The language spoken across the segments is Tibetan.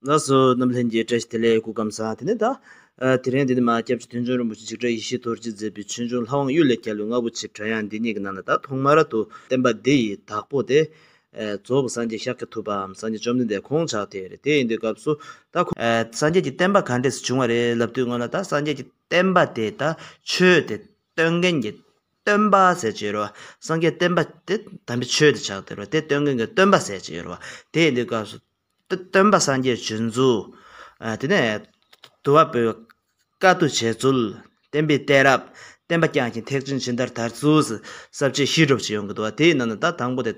ལ་སོགས་རྣམས་ལྷན་གྱིས་སྤྲས་ཤིང་དེ་ལས་སྐུ་བསྐམས་ས་དེ་ནས་དག། དེ་རིང་འདི་ནི་མ་སྐྱབས་ཀྱི་དོན་བྱུང་རིན་པོ་ཆེ་འཇིགས་བྲལ་ཡེ་ཤེས་རྡོ་རྗེས་མཛད་པའི་ཆོས་འབྱུང་ལྷ་དབང་གཡུལ་ལས་རྒྱལ་བའི་རྔ་བོ་ཆེའི་བྲག་ཡང་འདི་ཉིད་ཀྱི་ནང་ན་ད་ཐོག་མ་ར་ཏུ་བསྟན་པ་འདི་ཡི་བདག་པོ་སྟེ། རྫོགས་པའི་སངས་རྒྱས་ཤཱཀྱ་ཐུབ་པའམ་སངས་རྒྱས་བཅོམ་ལྡན་འདས་ཁོང་ཅག་དེ་རེད་དེ་ཡིན་དུས་སྐབས་སུ་ད། སངས་རྒྱས་ཀྱི་བསྟན་པ་ག་འདྲས་སུ་བྱུང་བ་རེད་ལབ་དུས་སྔོན་ལ་ད་སངས་རྒྱས་ཀྱི་བསྟན་པ་དེ་ད་ཆོས་དེ་སྟོན་མཁན་གྱི་སྟོན་པ་ཟེར་གྱི་ཡོད་རེད་བ་སངས་རྒྱས་བསྟན་པ་དེ་དམ་པའི་ཆོས་དེ་ཆགས་ཏེ་རེད་དེ་སྟོན་མཁན་གྱི་སྟོན་པ་ཟེར་གྱི་ཡོད་རེད་བ་དེ་ཡིན་དུས་སྐབས་སུ་སྟོན་པ་སངས་རྒྱས་བྱོན་རྫོགས། དེ་ནས་དུ་བ་པོའི་བཀའ་བསྡུ་བྱས་ཚུལ། བསྟན་པའི་གཏད་རབས་བསྟན་པ་བསྐྱངས་ཤིང་ཐེག་ཆེན་ཇི་ལྟར་དར་ཚུལ། ཟབ་རྒྱས་ཤིས་སྒྲུབ་ཅེས་ཡོང་གི་འདུག་བ་དེའི་ནང་ན་ད་དང་པོ་དེ།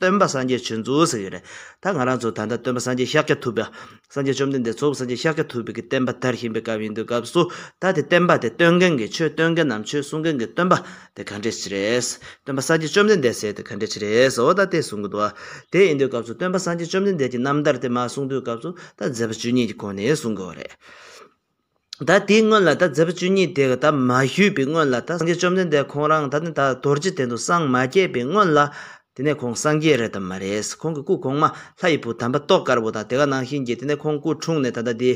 སྟོན་པ་སངས་རྒྱས་བྱོན་རྫོགས་ཟེར་གྱི་རེད། ད་ང་རང་ཚོ་ད་ལྟ་སྟོན་པ་སངས་རྒྱས་ཤཱཀྱ་ཐུབ་པ། སངས་རྒྱས་བཅོམ་ལྡན་འདས་ཚོགས་སངས་རྒྱས་ཤཱཀྱ་ཐུབ་པའི་གྱི་བསྟན་པ་དར་བཞིན་པའི་སྐབས་ཡིན་འདུག་སྐབས་སུ། ད་དེ་བསྟན་པ་དེ་སྟོན་མཁན་གྱི་ཆོས་སྟོན་མཁན་ནམ་ཆོས་གསུང་མཁན་གྱི་སྟོན་པ། དེ་ག་འདྲའི་ཕྱིར། སྟོན་པ་སངས་རྒྱས་བཅོམ་ལྡན་འདས་གསལ་ཏེ་ག་འདྲའི་ཕྱིར་ཨོ་ད་ལྟའི་གསུང་གི་དུ་བ། དེ་ཨིནྡྲའི་སྐབས་སུ་སྟོན་པ་སངས་རྒྱས་བཅོམ་ལྡན་འདས་ཀྱིས་རྣམ་ཐར་དེ་མ་གསུང་དུས་སྐབས་སུ་ད་མཛད་པ་བཅུ་གཉིས་ཀྱི་གོང་ནས་གསུང་དགོས་པ་རེད། ད་དེའི་སྔོན་ལ་ད་མཛད་པ་བཅུ་གཉིས་དེ་ག་ད་མ་ཞུས་པའི་སྔོན་ལ་ད་སངས་རྒྱས་བཅོམ་ལྡན་འདས་ཁོང་རང་ད་ནི་ད་རྡོ་རྗེ་གདན་དུ་སངས་མ་རྒྱས་པའི་སྔོན་ལ། དེ་ནས་ཁོང་སངས་རྒྱས་རེད་དམ་མ་རེད། ཁོང་གི་སྐུ་གོང་མ་ལྷ་ཡི་བུ་དམ་པ་ཏོག་དཀར་པོ་དང་དེ་ག་ནང་བཞིན་གྱིས་དེ་ནས་ཁོང་སྐུ་འཁྲུངས་ནས་ད་ལྟ་འདི།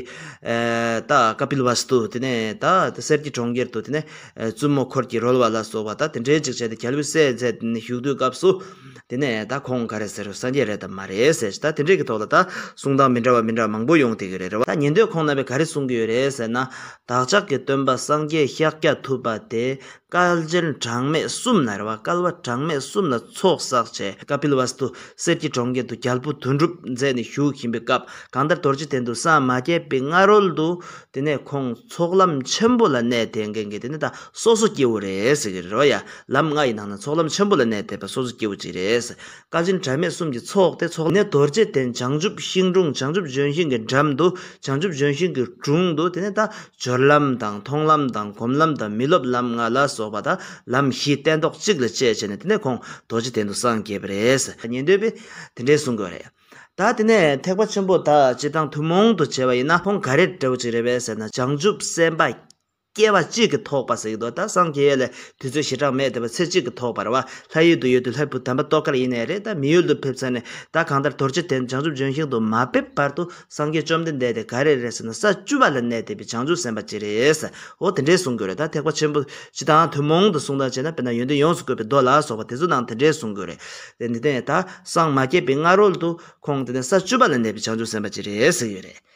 ད། Kapilvastu། དེ་ནས་ད། གསེར་གྱི་གྲོང་ཁྱེར་དུ་དེ་ནས། བཙུན་མོ་འཁོར་གྱིས་རོལ་བ་ལ་སོགས་པ་ད་དེ་འདྲའི་ཅིག་བྱས་ཏེ་གྱ་ལུས་སད་མཛད་དེ་ནས་བཞུགས་དུས་སྐབས་སུ། དེ་ནས་ད་ཁོང་ག་རེ་ཟེར་རོ་སངས་རྒྱས་རེད་དམ་མ་རེད་ཟེར་ཞིང་ད་དེ་འདྲའི་གི་ཐོག་ལ་ད་གསུང་སྟངས་མི་འདྲ་བ་མི་འདྲ་བ་མང་པོ་ཡོང་དེ་གི་རེད་རེད། ད་ཉན་དུས་ཁོང་རྣམ་པས་ག་རེ་གསུང་གི་ཡོད་རེད་ཟེར་ན། བདག་ཅག་གི་སྟོན་པ་སངས་རྒྱས་ཤཱཀྱ་ཐུབ་པ་དེ། དཀར་རྒྱན་གྲངས་མེད་གསུམ་ནར་བ་དཀར་བ་གྲངས་མེད་གསུམ་ལ་ཚོགས་བསགས་བྱས། ཀྤིལ་བ་སྟུ། གསེར་གྱི་གྲོང་ཁྱེར་དུ་རྒྱལ་པོ་དོན་གྲུབ་མཛད་ནས་བཞུགས་བཞིན་པའི་སྐབས་གང་ལྟར་དོར་ཇི་སྟེ་འདུག་སངས་མ་རྒྱས་པའི་སྔ་རོལ་དུ། དེ་ནས་ཁོང་ཚོགས་ལམ་ཆེན་པོ་ལ་གནས་དེ་འགེངས་ཀྱི་དེ་ནས་ད་སོ་སོ་སྐྱེ་བོ་རེ་ཟིག་རོལ། ལམ་ལྔ་ཡི་ནང་ན་ཚོགས་ལམ་ཆེན་པོ་ལ་གནས་དེ་ད་སོ་སོ་སྐྱེ་བོ་གཅིག་རེ་ཟིག་བཀའ་དྲིན་གྲངས་མེད་གསུམ་གྱི་ཚོགས་ཏེ་ཚོགས་ནི་རྡོ་རྗེ་གདན་བྱང་ཆུབ་ཤིང་དྲུང་བྱང་ཆུབ་ལྗོན་ཤིང་གི་འགྲམ་དུ་བྱང་ཆུབ་ལྗོན་ཤིང་གི་དྲུང་དུ་དེ་ནས་དང་སྦྱོར་ལམ་དང་མཐོང་ལམ་དང་སྒོམ་ལམ་དང་མི་སློབ་ལམ་ལྔ་ལ་སོགས་པ་དང་ལམ་བཞི་སྟན་ཐོག་གཅིག་ལ་བཅས་བྱས་ནས་དེ་ནས་ཁོང་རྡོ་རྗེ་གདན་དུ་སངས་རྒྱས་པ་རེད། ཉན་འདོད་པས་དེ་འདྲའི་གསུང་གི་རེད། ད་དེ་ནས་ཐེག་པ་ཆེན་པོ་དག་སྤྱི་དང་ཐུན་མོང་དུ་བྱས་པ་ཡིན་ན་ཁོང་ག་རེ་འདྲ་བོ་ཅིག་རེད་པས་ཟེར་ན་བྱང་ཆུབ་སེམས་དཔའ་སྐྱེ་བ་གཅིག་གིས་ཐོགས་པ་ཟིག་རྡོ་དང་སངས་རྒྱས་ཡོད་ལ་དུས་ཚོད་ཞེ་དྲག་མེད་དེ་བས་ཚེ་གཅིག་གིས་ཐོགས་པར་བ་ལྷ་ཡུལ་དུ་ཡོད་དུས་ལྷའི་བུ་དམ་པ་ཏོག་དཀར་ཡེ་ནས་རེད་ད་མི་ཡུལ་དུ་ཕེབས་ཚར་ནས་ད་གང་ལྟར་དོར་ཅི་དེ་ནི་བྱང་ཆུབ་ལྗོན་ཤིང་དུ་མ་ཕེབས་བར་དུ་སངས་རྒྱས་བཅོམ་ལྡན་འདས་དེ་ག་རེ་རེད་ཟེར་ན་ས་བཅུ་བ་ལ་གནས་དེ་བས་བྱང་ཆུབ་སེམས་དཔའ་ཅི་རེད་ཨོ་དེ་འདྲས་གསུང་དགོས་རེད་ད་ཐེག་པ་ཆེན་པོ་སྤྱི་དང་ཐུན་མོང་དུ་གསུང་སྟངས་བྱས་ན་དཔེར་ན་ཡོན་ཏན་ཡོངས་སུ་བཀོད་པའི་མདོ་ལ་སོགས་པ་དེ་ཚོ་ནང་དེ་འདྲས་གསུང་དགོས་རེད་དེ་ནི་དེ་ནས་ད་སངས་མ་རྒྱས་པའི་སྔ་རོལ་དུ་ཁོང་དེ་ནས་ས་བཅུ་བ་ལ་གནས་པའི་བྱང་ཆུབ་སེམས་དཔའ་ཅི་རེད་ཟེར་ཡོད་རེད།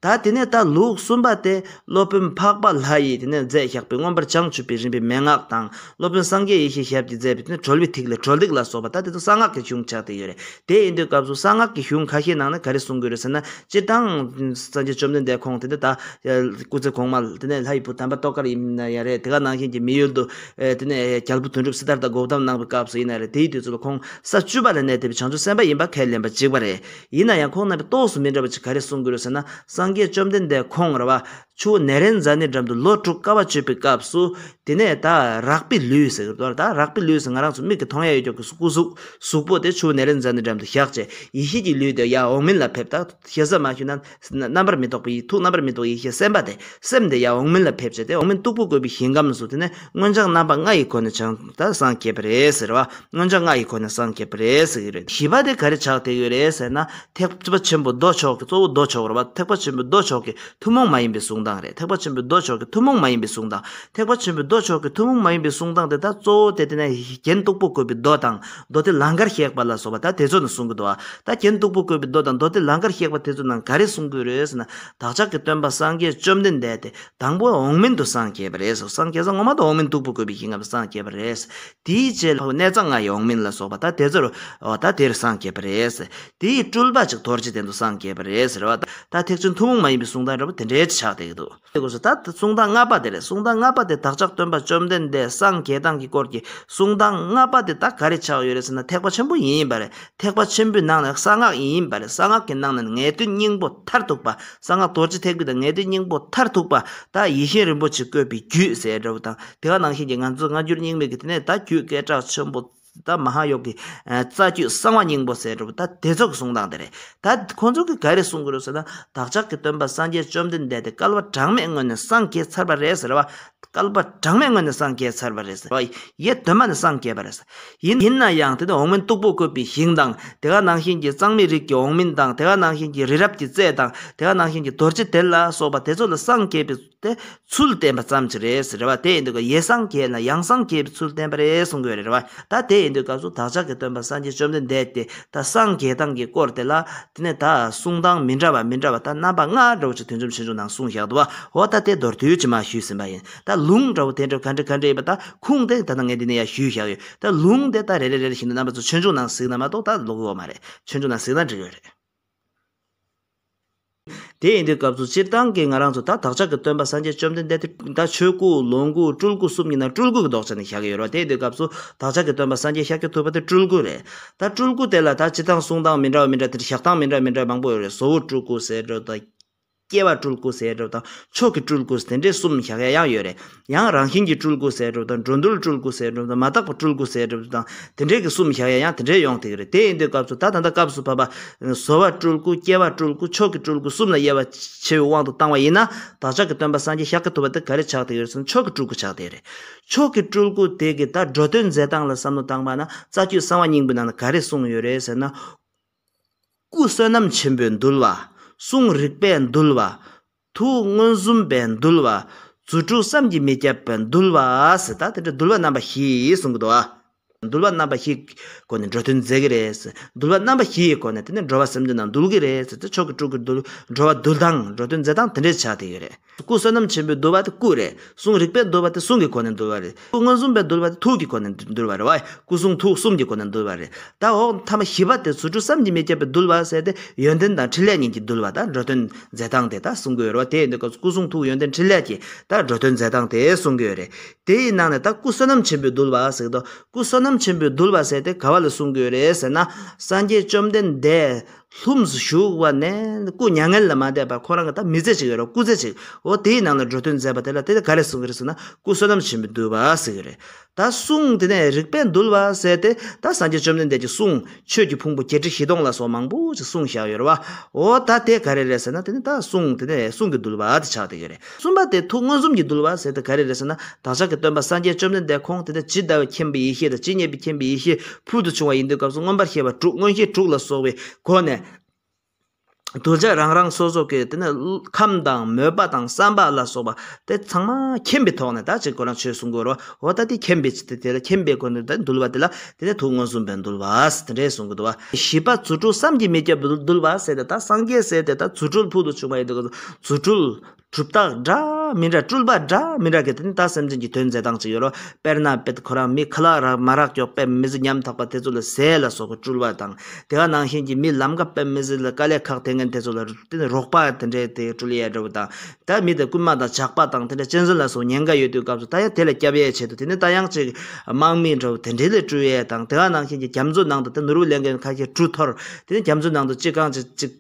ད་དེ་ནས་ད་ལུགས་གསུམ་པ་སྟེ་སློབ་དཔོན་འཕགས་པ་ལྷ་ཡིས་དེ་ནས་མཛད་བཤགས་པའི་མངོན་པར་བྱང་ཆུབ་པའི་རིམ་པའི་མན་ངག་དང་སློབ་དཔོན་སངས་རྒྱས་ཡེ་ཤེས་ཞབས་ཀྱིས་མཛད་པའི་དེ་གྲོལ་བའི་ཐིག་ལེ་གྲོལ་སྟེགས་ལ་སོགས་པ་ད་དེ་ཚོ་གསང་སྔགས་ཀྱི་གཞུང་ཆགས་ཏེ་ཡོད་རེད་དེ་ཡིན་དུས་སྐབས་སུ་གསང་སྔགས་ཀྱི་གཞུང་ཁ་ཤས་ནང་ནས་ག་རེ་གསུང་དགོས་རེད་ཟེར་ན་སྤྱིར་བཏང་སངས་རྒྱས་བཅོམ་ལྡན་འདས་ཁོང་དེ་ནས་ད་སྐུ་ཚེ་གོང་མ་དེ་ནས་ལྷ་ཡི་བུ་དམ་པ་ཏོག་དཀར་ཡིན་ན་ཡང་རེད་དེ་ག་ནང་བཞིན་གྱི་མི་ཡུལ་དུ་དེ་ནས་རྒྱལ་པོ་དོན་གྲུབ་སིདྡྷརྟ་འགོག་གཏམ་གནང་བའི་སྐབས་སུ་ཡིན་ན་རེད་དེའི་དུས་ཚོད་ལ་ཁོང་ས་བཅུ་པ་ལ་གནས་བསྡད་པའི་བྱང་ཆུབ་སེམས་དཔའ་ཡིན་པ་ཁས་ལེན་པ་འཇིགས་པ་རེད། ཡིན་ན་ཡང་ཁོང་རྣམ་པའི་རྟོགས་སུ་མི་འགྲོ་བ་ཅིག་ག་རེ་གསུང་གི་རེད་ཟེར་ན་སངས་རྒྱས་བཅོམ་ལྡན་འདས་ཁོང་ར་བ་ཆུ་བོ་ནད་རན་ཛཱ་ནི་འགྲམ་དུ་ལོ་དྲུག་དཀའ་བ་སྤྱོད་པའི་སྐབས་སུ། དེ་ནས་ད་རག་པི་ལུས་ཟེར་གི་རེད་ད་རག་པི་ལུས་ཟེར་ང་རང་ཚོ་མིག་གིས་མཐོང་ཡ་ཡོད་ཀྱང་སྐུ་གཟུགས་གཟུགས་པོ་དེ་ཆུ་བོ་ནད་རན་ཛཱ་ནི་འགྲམ་དུ་བཞག་རྗེས་ཡེ་ཤེས་ཀྱི་ལུས་དེ་ཡར་འོག་མིན་ལ་ཕེབས་ད་ཤེས་བཟའ་མ་ཞུས་ན། རྣམ་པར་མི་རྟོག་པ་ཡིས་ཐུགས་རྣམ་པར་མི་རྟོག་ཡེ་ཤེས་སེམས་དཔའ་དེ་སེམས་དེ་ཡང་འོག་མིན་ལ་ཕེབས་བྱ་སྟེ་འོག་མིན་སྟུག་པོ་བཀོད་པའི་ཞིང་ཁམས་སུ་དེ་ནས་མངོན་བྱང་རྣམ་པ་ལྔ་ཡི་སྒོ་ནས་བྱང་དང་སངས་རྒྱས་པ་རེད་ཟེར་བ། མངོན་བྱང་ལྔ་ཡི་སྒོ་ནས་སངས་རྒྱས་པ་རེད་ཟེར་གྱི་རེད། བཞི་པ་དེ་ག་རེ་ཆགས་བསྡད་ཡོད་རེད་ཟེར་ན། ཐེག་པ་ཆེན་པོ་མདོ་ཕྱོགས་ཀྱི་གཙོ་བོ་མདོ་ཕྱོགས་རེད་བ། ཐེག་པ་ཆེན་པོའི་མདོ་ཕྱོགས་ཀྱི་ཐུན་མོང་མ་ཡིན་པའི་གསུང་སྟངས་རེད་ཐེག་པ་ཆེན་པོའི་མདོ་ཕྱོགས་ཀྱི་ཐུན་མོང་མ་ཡིན་པའི་གསུང་སྟངས། ཐེག་པ་ཆེན་པོའི་མདོ་ཕྱོགས་ཀྱི་ཐུན་མོང་མ་ཡིན་པའི་གསུང་སྟངས་དེ་དག་གཙོ་བོ་དེ་དེ་ནས་རྒྱན་སྟུག་པོ་བཀོད་པའི་མདོ་དང། མདོ་སྡེ་ལང་ཀར་གཤེགས་པ་ལ་སོགས་པ་ད་དེ་ཚོ་ནི་གསུང་གི་མདོ་ཨ། ད་རྒྱན་སྟུག་པོ་བཀོད་པའི་མདོ་དང་མདོ་སྡེ་ལང་ཀར་གཤེགས་པ་དེ་ཚོ་རྣམས་ག་རེ་གསུང་གི་རེད་ཟེར་ན། བདག་ཅག་གི་སྟོན་པ་སངས་རྒྱས་བཅོམ་ལྡན་འདས་དེ་དང་པོ་འོག་མིན་དུ་སངས་རྒྱས་པ་རེད་ཟེར་སངས་རྒྱས་ས་ངོ་མ་དང་འོག་མིན་སྟུག་པོ་བཀོད་པའི་ཞིང་ངམ་སངས་རྒྱས་པ་རེད་ཟེར། དེའི་རྗེས་ལྷོ་གནས་གཙང་ང་ཡི་འོག་མིན་ལ་སོགས་པ་ད་དེ་ཚོར་རོ། ད་དེར་སངས་རྒྱས་པ་རེད་ཟེར། དེའི་སྤྲུལ་པ་ཅིག་དོར་རྗེས་དེ་ཚོ་སངས་རྒྱས་པ་རེད་ཟེར་རོ། ད་ཐེག་ཆེན་ཐུན་མོང་མ་ཡིན་པའི་གསུང་དང་འདྲ་བོ་དེ་འདྲའི་ཆགས་བསྡད་ཀྱི་འདུག། ཞེས་དགོས་སོ། ད་གསུང་སྟངས་ལྔ་པ་དེ་རེད། གསུང་སྟངས་ལྔ་པ་དེ་བདག་ཅག་སྟོན་པ་བཅོམ་ལྡན་འདས་སངས་རྒྱས་དང་གི་སྐོར་གྱི་གསུང་སྟངས་ལྔ་པ་དེ་དག་ག་རེ་ཆགས་ཡོད་རེད་ཟེར་ན་ཐེག་པ་ཆེན་པོ་ཡིན་ཡིན་པ་རེད། ཐེག་པ་ཆེན་པོའི་ནང་ནས་གསང་སྔགས་ཡིན་ཡིན་པ་རེད། གསང་སྔགས་ཀྱི་ནང་ནས་ངེས་དོན་སྙིང་པོ་མཐར་ཐུག་པ། གསང་སྔགས་རྡོ་རྗེ་ཐེག་པའི་དང་ངེས་དོན་སྙིང་པོ་མཐར་ཐུག་པ། ད་ཡེ་ཤེས་རིན་པོ་ཆེས་བཀོད་པའི་རྒྱུད་ཟེར་འདྲ་བོ་དང་དེ་ག་ནང་བཞིན་གྱི་ང་ཚོས་སྔ་འགྱུར་རྙིང་མའི་གི་དེ་ནས་ད་རྒྱུད་སྐད་གྲགས་ཆེན་པོ། ད་མ་ཧཱ་ཡོ་གི་རྩ་རྒྱུད་གསང་བ་སྙིང་པོ་ཟེར་བ་ད་དེ་ཚོ་གི་གསུང་སྟངས་དེ་རེད། ད་ཁོང་ཚོ་གི་ག་རེ་གསུང་གི་རེད་ཟེར་ན་བདག་ཅག་གི་སྟོན་པ་སངས་རྒྱས་བཅོམ་ལྡན་འདས་དེ་སྐལ་བ་གྲངས་མེད་སྔོན་ནས་སངས་རྒྱས་ཚར་བ་རེད་ཟེར་བ། སྐལ་པ་གྲངས་མེད་སྔོན་ནས་སངས་རྒྱས་ཚར་བ་རེད་ཟེར་བ་ཡེ་གདོད་མ་ནས་སངས་རྒྱས་པ་རེད། ཡིན་ཡིན་ན་ཡང་དེ་ནི་འོག་མིན་སྟུག་པོ་བཀོད་པའི་ཞིང་དང་དེ་ག་ནང་བཞིན་གྱི་གཙང་མའི་རིགས་ཀྱི་འོག་མིན་དང་དེ་ག་ནང་བཞིན་གྱི་རི་རབ་ཀྱི་རྩེ་དང་དེ་ག་ནང་བཞིན་གྱི་རྡོ་རྗེ་དེ་ལ་སོགས་པ་དེ་ཚོ་ལ་སངས་རྒྱས་པའི་དེ་ཚུལ་བསྟན་པ་ཙམ་གྱི་རེད་རེད་བ་དེ་ཡིན་དུས་ཀྱི་ཡེ་སངས་རྒྱས་ན་ཡང་སངས་རྒྱས་པའི་ཚུལ་བསྟན་པ་རེད་གསུང་དགོས་རེད་བ་ད་དེ་ཡིན་དུས་སྐབས་སུ་བདག་ཅག་གི་སྟོན་པ་སངས་རྒྱས་བཅོམ་ལྡན་འདས་དེ་ད་སངས་རྒྱས་དང་གི་སྐོར་དེ་ལ་དེ་ནས་ད་གསུང་སྟངས་མི་འདྲ་བ་མི་འདྲ་བ་ད་རྣམ་པ་ལྔ་འདྲ་བོ་ཅིག་དུས་འཇོམས་ཆེ་ཆུང་ནང་གསུང་བཞག་འདུག་བ་འོ་ད་དེ་མདོར་བསྡུས་ཀྱི་མ་ཞུས་ཟིན་པ་ཡིན་ད་ལུང་འདྲ་བོ་དེ་འདྲ་ག་འདྲ་ག་འདྲ་ཡིན་པ་ད་ཁུངས་དེ་ད་ནང་ངས་འདི་ནས་ཡ་ཞུས་བཞག་ཡོད་ད་ལུང་དེ་ད་རེ་རེ་རེ་རེ་བཞིན་དུ་རྣམ་པ་ཚོ་ཆོས་འབྱུང་ནང་གཟིགས་ན་མ་གཏོགས་ད་ལོག་གི་འོ་མ་རེད་ཆོས་འབྱུང་ནང་གཟིགས་ན་འགྲིག་གི་རེད། དེ་ཡིན་དུས་སྐབས་སུ་སྤྱིར་བཏང་གི་ང་རང་ཚོ་ད་བདག་ཅག་གི་སྟོན་པ་སངས་རྒྱས་བཅོམ་ལྡན་འདས་དེ་ད་ཆོས་སྐུ་ལོངས་སྐུ་སྤྲུལ་སྐུ་གསུམ་གྱི་ནང་སྤྲུལ་སྐུ་གི་ལྡོག་ཆ་ནས་བཞག་གི་ཡོད་རོགས་དེ་ཡིན་དུས་སྐབས་སུ་བདག་ཅག་གི་སྟོན་པ་སངས་རྒྱས་ཤཱཀྱ་ཐུབ་པ་དེ་སྤྲུལ་སྐུ་རེད་ད་སྤྲུལ་སྐུ་དེ་ལ་ད་སྤྱི་སྟངས་གསུང་སྟངས་མི་འདྲ་བ་མི་འདྲ་དེར་བཞག་སྟངས་མི་འདྲ་མི་འདྲ་མང་པོ་ཡོད་རེད་བཟོ་བོ་སྤྲུལ་སྐུ་ཟེར་རོགས་དང། སྐྱེ་བ་སྤྲུལ་སྐུ་ཟེར་རོགས་དང་མཆོག་གི་སྤྲུལ་སྐུ་དེ་འདྲས་གསུམ་བཞག་ཡ་ཡང་ཡོད་རེད། ཡང་རང་བཞིན་གྱི་སྤྲུལ་སྐུ་ཟེར་གྲུབ་དང་འགྲོ་འདུལ་སྤྲུལ་སྐུ་ཟེར་གྲུབ་དང་མ་དག་པ་སྤྲུལ་སྐུ་ཟེར་གྲུབ་དང་དེ་འདྲས་ཀྱི་གསུམ་བཞག་ཡ་ཡང་དེ་འདྲས་ཡོང་ཐེག་རེད་དེ་ཡིན་དུས་སྐབས་སུ་ད་ད་ལྟ་སྐབས་སུ་བབ་པ། བཟོ་བ་སྤྲུལ་སྐུ་སྐྱེ་བ་སྤྲུལ་སྐུ་མཆོག་གི་སྤྲུལ་སྐུ་གསུམ་ལ་དབྱེ་བ་ཕྱེ་བའི་དབང་དུ་བཏང་བ་ཡིན་ན་བདག་ཅག་གི་སྟོན་པ་སངས་རྒྱས་ཤཱཀྱ་ཐུབ་པ་དེ་ག་རེ་ཆགས་ཐེག་ཡོད་ཟེར་ན་མཆོག་གི་སྤྲུལ་སྐུ་ཆགས་ཐེག་རེད། མཆོག་གི་སྤྲུལ་སྐུ་དེ་གི་ད་འགྲོ་དོན་མཛད་སྟངས་ལ་བསམ་བློ་བཏང་བ་ན་རྩ་རྒྱུད་གསང་བ་སྙིང་པོའི་ནང་ན་ག་རེ་གསུངས་ཡོད་རེད་ཟེར་ན། སྐུ་བསོད་ནམས་ཆེན་པོས་འདུལ་བ། གསུང་རིག་པས་འདུལ་བ། ཐུགས་མངོན་སུམ་པའི་འདུལ་བ། རྫུ་འཕྲུལ་བསམ་གྱིས་མི་ཁྱབ་པའི་འདུལ་བ། ཟེར་ད་དེ་འདྲ་འདུལ་བ་རྣམ་པ་བཞི་གསུང་གི་འདུག་ཨ། འདུལ་བ་རྣམ་པ་བཞིའི་སྒོ་ནས་འགྲོ་དོན་མཛད་ཀྱི་རེད། འདུལ་བ་རྣམ་པ་བཞི་ཡི་སྒོ་ནས་དེ་ནས་འགྲོ་བ་སེམས་ཅན་རྣམས་འདུལ་གྱི་རེད། ཟེར་ཏེ་མཆོག་གི་སྤྲུལ་སྐུ་འདུལ་འགྲོ་བ་འདུལ་སྟངས་འགྲོ་དོན་མཛད་སྟངས་དེ་འདྲའི་ཆ་དེ་ཡོད་རེད། སྐུ་བསོད་ནམས་ཆེན་པོའི་འདུལ་བ་དེ་སྐུ་རེ་ཟུང་རིག་པའི་འདུལ་བ་དེ་གསུང་གི་སྒོ་ནས་འདུལ་བ་རེད། ཐུགས་མངོན་སུམ་པས་འདུལ་བ་དེ་ཐུགས་ཀྱི་སྒོ་ནས་འདུལ་བ་རེད། བའི་སྐུ་གསུང་ཐུགས་གསུམ་གྱི་སྒོ་ནས་འདུལ་བ་རེད། དང་འོག་ཐ་མ་བཞི་པ་དེ་ཟུར་དྲུག་བསམ་གྱིས་མི་ཁྱབ་པའི་འདུལ་བ་ཟེར་ཏེ་ཡོན་ཏན་དང་ཕྲིན་ལས་གཉིས་ཀྱི་འདུལ་བ་དང་འགྲོ་དོན་མཛད་སྟངས་དེ་དག་གསུང་གི་ཡོད་རེད་བ་དེ་ཡིན་དུས་སྐབས་སྐུ་གསུང་ཐུགས་ཡོན་ཏན་ཕྲིན་ལས་ཀྱི་དང་འགྲོ་དོན་མཛད་སྟངས་དེ་གསུང་གི་ཡོད་རེད། དེའི་ནང་ནས་ད་སྐུ་བསོད་ནམས་ཆེན་པོའི་འདུལ་བ་ཟེར་གི་འདུག་སྐུ་བསོད་ནམས་ཆེན་པོའི་འདུལ་བ་ཟེར་ཏེ་ག་བ་ལ་གསུང་གི་ཡོད་རེད་ཟེར་ན། སངས་རྒྱས་བཅོམ་ལྡན་འདས། ལྷུམས་སུ་ཞུགས་བ་ནས་སྐུ་མྱ་ངན་ལས་མ་འདས་པར་ཁོ་རང་གི་ད་མི་ཚེ་ཅིག་ཡོད་རེད་སྐུ་ཚེ་ཅིག་འོ་དེའི་ནང་ལ་འགྲོ་དོན་མཛད་པ་དེ་ལ་དེ་ནས་ག་རེ་གསུང་གི་རེད་ཟེར་ན་སྐུ་བསོད་ནམས་ཆེན་པོས་འདུལ་བ་ཟེར་གི་རེད་ད་གསུང་དེ་ནས་རིག་པས་འདུལ་བ་ཟེར་ཏེ་ད་སངས་རྒྱས་བཅོམ་ལྡན་འདས་ཀྱི་གསུང་ཆོས་ཀྱི་ཕུང་པོ་བརྒྱད་ཁྲི་བཞི་སྟོང་ལ་སོགས་མང་པོ་ཅིག་གསུང་བཞག་ཡོད་རེད་བ་འོ་ད་དེ་ག་རེ་རེད་ཟེར་ན་དེ་ནས་ད་གསུང་དེ་ནས་གསུང་གི་འདུལ་བ་དེ་ཆགས་བསྡད་ཡོད་རེད། གསུམ་པ་དེ་ཐུགས་མངོན་སུམ་གྱིས་འདུལ་བ་ཟེར་ཏེ་ག་རེ་རེད་ཟེར་ན་བདག་ཅག་གི་སྟོན་པ་སངས་རྒྱས་བཅོམ་ལྡན་འདས་ཁོང་དེ་ནས་ཇི་ལྟ་བའི་མཁྱེན་པའི་ཡེ་ཤེས་དང་ཇི་སྙེད་པའི་མཁྱེན་པའི་ཡེ་ཤེས་ཕུལ་དུ་བྱུང་བ་ཡིན་དུས་སྐབས་སུ་མངོན་པར་ཤེས་པ་དྲུག་མངོན་ཤེས་དྲུག་ལ་སོགས་པའི་སྒོ་ནས། གདུལ་བྱ་རང་རང་སོ་སོ་ཀྱི་དེ་ནས་ཁམས་དང་མོས་པ་དང་བསམ་པ་ལ་སོགས་པ་དེ་ཚང་མ་མཁྱེན་པའི་ཐོག་ནས་དག་བྱེད་དགོས་རང་ཆོས་སུ་འགོད་རོགས་ད་ལྟ་དེ་མཁྱེན་པའི་ཆེད་དུ་དེ་ལ་མཁྱེན་པའི་སྒོ་ནས་འདུལ་བ་དེ་ལ་དེ་ནས་དུག་མངོན་སུམ་པས་འདུལ་བས་དེ་འདྲའི་གཟུངས་ཀྱི་བསྡུ་བ། བཞི་པ་རྫུ་འཕྲུལ་བསམ་གྱིས་མི་ཁྱབ་པས་འདུལ་བ་ཟེར་ཏེ་ད་སངས་རྒྱས་ཟེར་ཏེ་ད་རྫུ་འཕྲུལ་ཕུལ་དུ་བྱུང་བ་ཡིན་ཏེ་གཟུངས་འཕྲུལ། གྲུབ་རྟགས་འདྲ་མི་འདྲ་སྤྲུལ་པ་འདྲ་མི་འདྲ་གི་དེ་ནི་ད་སེམས་ཅན་གྱི་དོན་མཛད་སྟངས་གཅིག་ཡོད་རོ། དཔེར་ན་དཔེར་ཁོ་རང་མི་ཁ་ལག་རག་མ་རག་ཀྱོག་པད་མི་གཟི་ཉམ་ཐག་པ་དེ་ཚོ་ལ་ཟས་ལ་སོགས་པའི་སྤྲུལ་བ་དང། དེ་ག་ནང་བཞིན་གྱི་མི་ལམ་ཀ་པད་མི་གཟི་ལ་དཀའ་ལས་ཁག་དེ་ངན་དེ་ཚོ་ལ་དེ་ནི་རོགས་པ་དེ་འདྲའི་དེ་སྤྲུལ་ཡས་འདྲ་བོ་དང། ད་མི་དེ་རྐུན་མ་དང་ཇག་པ་དང་དེ་འདྲ་གཅན་གཟན་ལ་སོགས་ཉེན་ཁ་ཡོད་དུས་སྐབས་སུ་ད་ཡང་དེ་ལ་སྐྱབས་ཡས་བྱེད་དོ་དེ་ནི་ད་ཡང་ཅིག་དམག་མིའི་འགྲོ་བ་དེ་འདྲའི་ལས་སྤྲུལ་ཡས་དང་དེ་ག་ནང་བཞིན་གྱི་རྒྱ་མཚོའི་ནང་དུ་དེ་ནུར་བུ་ལེན་མཁན་ཁ་ཁྱེར་གྲུ་འཐོར་དེ་ནི་རྒྱ་མཚོའི་ནང་དུ་ཅིག་གང་ཅིག་ཅིག་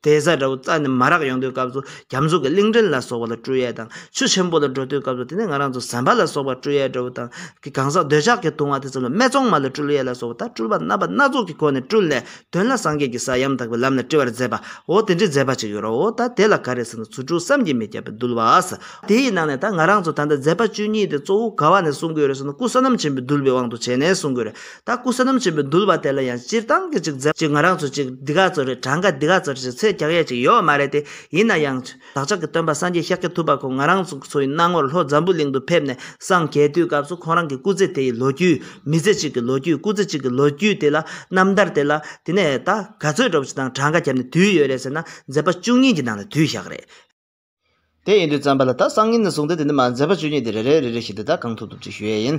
དེ་བཟའ་འདྲ་བོ་རྩ་ནས་མ་རག་ཡོང་དུས་སྐབས་སུ་རྒྱ་མཚོ་གི་གླིང་ཕྲན་ལ་སོགས་བ་ལ་སྤྲུལ་ཡས་དང་ཆུ་ཆེན་པོ་ལ་འགྲོ་དུས་སྐབས་སུ་དེ་ནི་ང་རང་ཚོ་ཟན་པ་ལ་སོགས་བ་སྤྲུལ་ཡས་འདྲ་བོ་དང་གི་གང་ཟག་འདོད་ཆགས་ཀྱི་དུང་བ་དེ་ཙམ་ལ་སྨད་ཙོང་མ་ལ་སྤྲུལ་ཡས་ལ་སོགས་བ་ད་སྤྲུལ་པ་རྣམ་པ་སྣ་ཚོགས་ཀྱི་སྒོ་ནས་སྤྲུལ་ནས་དོན་ལ་སངས་རྒྱས་ཀྱི་ས་ཡང་དག་པའི་ལམ་ལ་བཀྲི་བར་མཛད་པའོ་དེ་འདྲའི་མཛད་པ་ཅིག་ཡོད་རོ། ད་དེ་ལ་ག་རེ་ཟེར་ན་ཚུལ་དྲུག་བསམ་གྱིས་མི་ཁྱབ་པའི་གདུལ་བའོ། དེ་ཡི་ནང་ནས་ད་ང་རང་ཚོ་ད་ལྟ་མཛད་པ་བཅུ་གཉིས་དེ་གཙོ་བོ་ག་བ་ནས་གསུང་དགོས་རེད་ཟེར་ན་སྐུ་བསོད་ནམས་ཆེན་པོའི་གདུལ་བའི་དབང་དུ་བྱས་ནས་གསུང་དགོས་རེད། ད་སྐུ་བསོད་ནམས་ཆེན་པོའི་གདུལ་བ་དེ་ལ་ཡང་སྤྱིར་བཏང་གི་ཅིག་མཛད་པ་ཅིག་ང་རང་ཚོ་ཅིག་འདི་ག་ཚོ་རེད་གྲངས་ཀ་འདི་ག་ཚོ་རེད་ཅིག་ཚད་རྒྱག་ཡས་ཅིག་ཡོད་མ་རེད་དེ་ཡིན་ན་ཡང། བདག་ཅག་གི་སྟོན་པ་སངས་རྒྱས་ཤཱཀྱ་ཐུབ་པ་ཁོང་ང་རང་ཚོའི་སྣང་ངོར་ལྷོ་འཛམ་བུ་གླིང་དུ་ཕེབས་ནས་སངས་རྒྱས་དུས་སྐབས་སུ་ཁོང་རང་གི་སྐུ་ཚེ་དེ་ཡི་ལོ་རྒྱུས། མི་ཚེ་གཅིག་གི་ལོ་རྒྱུས་སྐུ་ཚེ་གཅིག་གི་ལོ་རྒྱུས་དེ་ལ་རྣམ་ཐར་དེ་ལ། དེ་ནས་ད་ག་ཚོད་འགྲོ་བ་ཞིག་དང་གྲངས་ཀ་བརྒྱབ་ནས་དུས་ཡོད་རེད་ཟེར་ན་མཛད་པ་བཅུ་གཉིས་ཀྱི་ནང་ལས་དུས་ཞག་རེད། དེ་ཡིན་དུས་བརྩམས་པ་ལ་ད་སང་ཉིན་ནས་བཟུང་སྟེ་དེ་ནི་མ་མཛད་པ་བཅུ་གཉིས་དེ་རེ་རེ་རེ་རེ་བཞིན་དེ་དག་གང་ཐུབ་ཐུབ་ཅིག་ཞུ་ཡས་ཡིན།